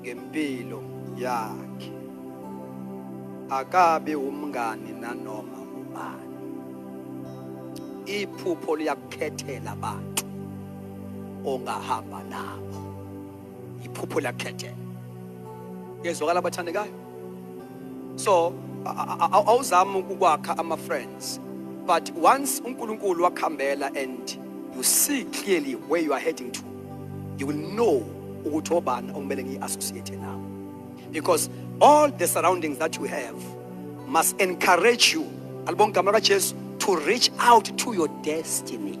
ngempilo yakhe akabi umngani nanoma ubani iphupho liyakukhethela abantu ongahamba nabo iphupho liyakukhethela yezwakala abathandekayo so awuzami ukwakha ama friends but once uNkulunkulu wakhambela and you see clearly where you are heading to you will know ukuthi obani okumele ngiyi-associate nabo because all the surroundings that you have must encourage you alibonga igama lakajesu to reach out to your destiny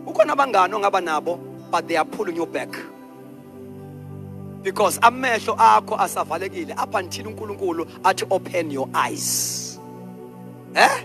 ukhona abangani ongaba nabo but they are pulling you back because amehlo akho asavalekile up until unkulunkulu athi open your eyes eh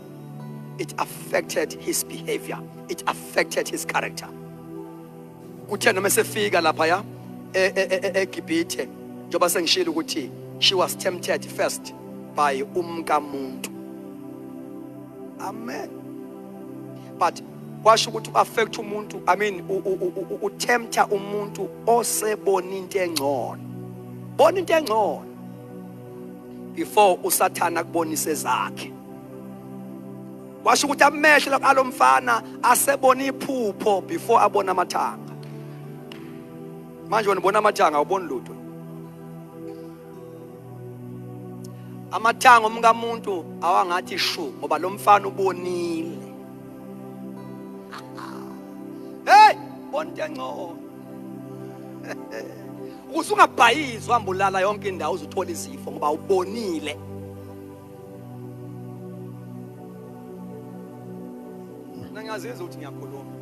it affected his behavior it affected his character kuthe noma esefika lapha ya eGibhithe e, e, e, njengoba sengishilo ukuthi she was tempted first by umkamuntu amen but kwasho ukuthi u-affect umuntu i mean utempta umuntu osebona into engcono bona into engcono before usathana kubonise zakhe washo ukuthi amehlo alomfana asebona iphupho before abona amathanga manje wena ubona amathanga awuboni lutho amathanga omkamuntu awangathi shu ngoba lo mfana ubonile hey bonke ngcono ukuze ungabhayizi uhamba ulala yonke indawo uzuthola izifo ngoba ubonile Mina ngiyazizwa ukuthi ngiyakhuluma.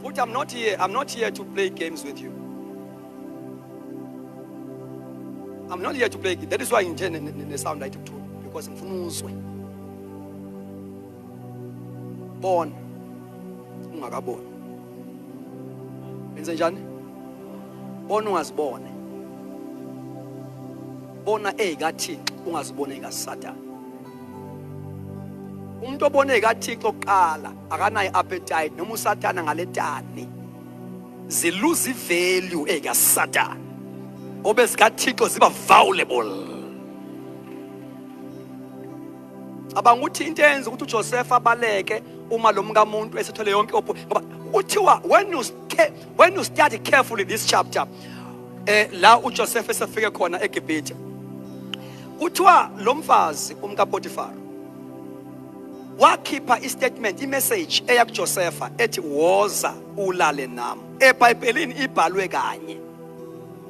Futhi I'm not here, I'm not here to play games with you. I'm not here to play. That is why ngithe ne sound light kuthula because ngifuna uzwe. Bona ungakaboni. Benze njani? Bona ungazibone. bona ezikaThixo ungazibona ezikaSathane umuntu obona ezikaThixo kuqala akanayo appetite noma uSathane ngaletani ziluza ivalue ezikaSathane ngoba ezikaThixo ziba valuable cabanga ukuthi into eyenza ukuthi uJoseph abaleke uma lo mkamuntu esethole yonke ngoba kuthiwa when you when you study carefully this chapter eh la uJoseph esefike khona eGibhithe kuthiwa lo mfazi umka Potiphar wakhipha istatement imessage eya kuJosepha ethi woza ulale nami eBhayibhelini ibhalwe kanye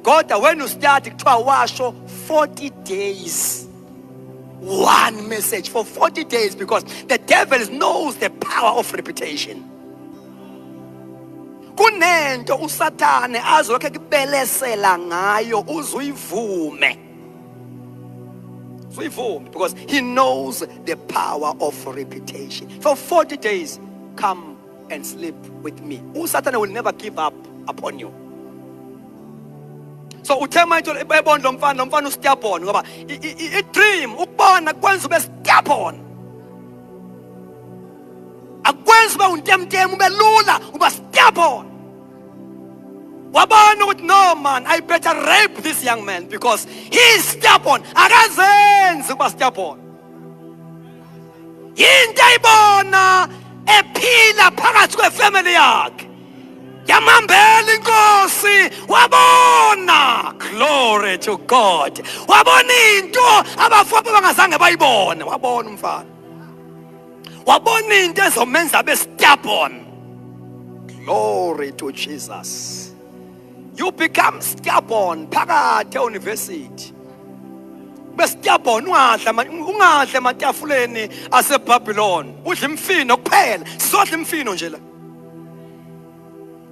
kodwa when you study kuthiwa washo 40 days one message for 40 days because the devil knows the power of reputation kunento usathane azokhe kubelesela ngayo uzuyivume uyivume because he knows the power of reputation for 40 days come and sleep with me usathane will never give up upon you so uthe manje ebona lo mfana lo mfana ustiabon ngoba i-dream ukubona kwenza ube stiabon akwenzi ube untemtemu ube lula uba stubborn wabona ukuthi no man i better rape this young man because he is stubborn akazenzi ukuba stubborn yinto ayibona ephila phakathi kwefamily yakhe yamambela inkosi wabona glory to god wabona into abafowabo bangazange bayibone wabona umfana wabona into ezomenza abe stubborn glory to jesus you become stubborn phakathi euniversity besitiyabhona ungadla ungadla ematafuleni asebabylon udla imfino kuphela sizodla imfino nje la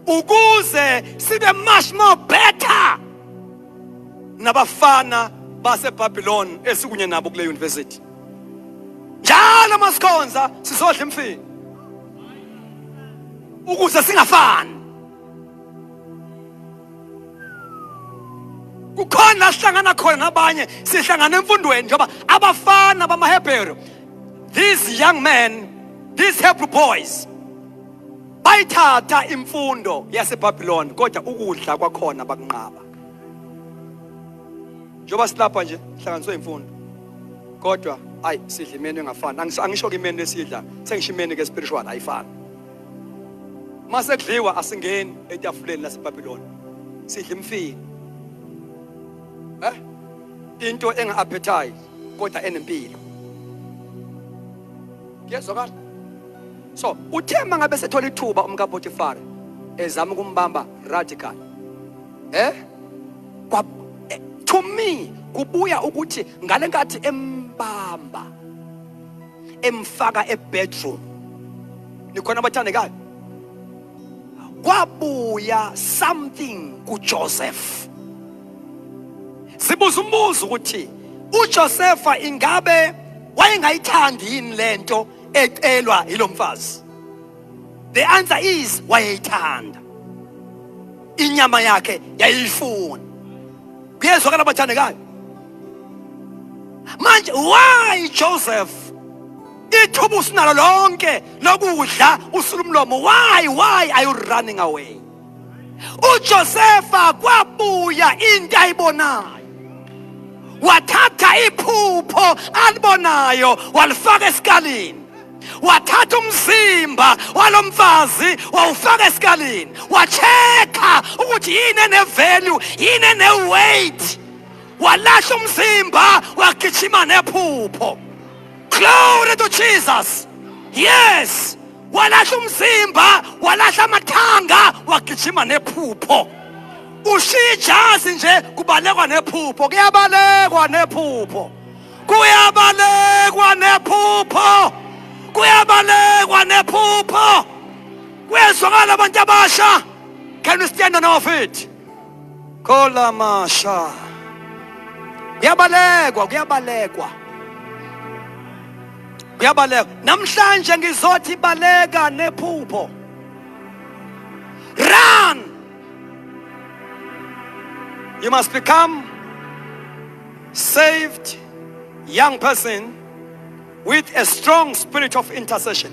ukuze sibe much more better nabafana baseBabylon esikunye nabo kule university njalo masikhonza sizodla imfini ukuze singafani kukhona la sihlangana khona nabanye sihlangana emfundweni njengoba abafana bamahebheru these young men these hebrew boys Bayithatha imfundo yaseBabiloni kodwa ukudla kwakhona bakunqaba. Njoba silapha nje hlanganiswe imfundo. Kodwa ayi sidla imenu engafani. Angisho ke imenu esidla, sengisho imenu ke spiritual ayifani. Mase kudliwa asingeni etafuleni laseBabiloni. Sidla imfini. Eh? Into enga appetite kodwa enempilo. kuyezwakala so uthe mangabe sethola ithuba umkapotifari ezama ukumbamba radical eh kwa eh, to me kubuya ukuthi ngale nkathi embamba emfaka ebedroom nikhona abathandekayo kwabuya something kuJoseph sibuza umbuzo ukuthi uJosefa ingabe wayengayithandi yini lento ecelwa yilomfazi the answer is wayeyithanda inyama yakhe yayiyifuna kuyezwa kana bathandekayo manje why Joseph ithuba usinalo lonke lokudla usulumlomo why why are you running away uJosefa kwabuya into ayibonayo wathatha iphupho alibonayo walifaka esikalini wathatha umzimba walomfazi wawufaka esikalini wacheka ukuthi yini enevalue yini eneweight walahla umzimba wagijima nephupho glory to jesus yes walahla umzimba walahla amathanga wagijima nephupho ushiya ijazi nje kubalekwa nephupho kuyabalekwa nephupho kuyabalekwa nephupho kuyabalekwa nephupho kuyezwakala abantu abasha can we stand on our feet khola masha kuyabalekwa kuyabalekwa uyabaleka namhlanje ngizothi baleka nephupho run you must become saved young person with a strong spirit of intercession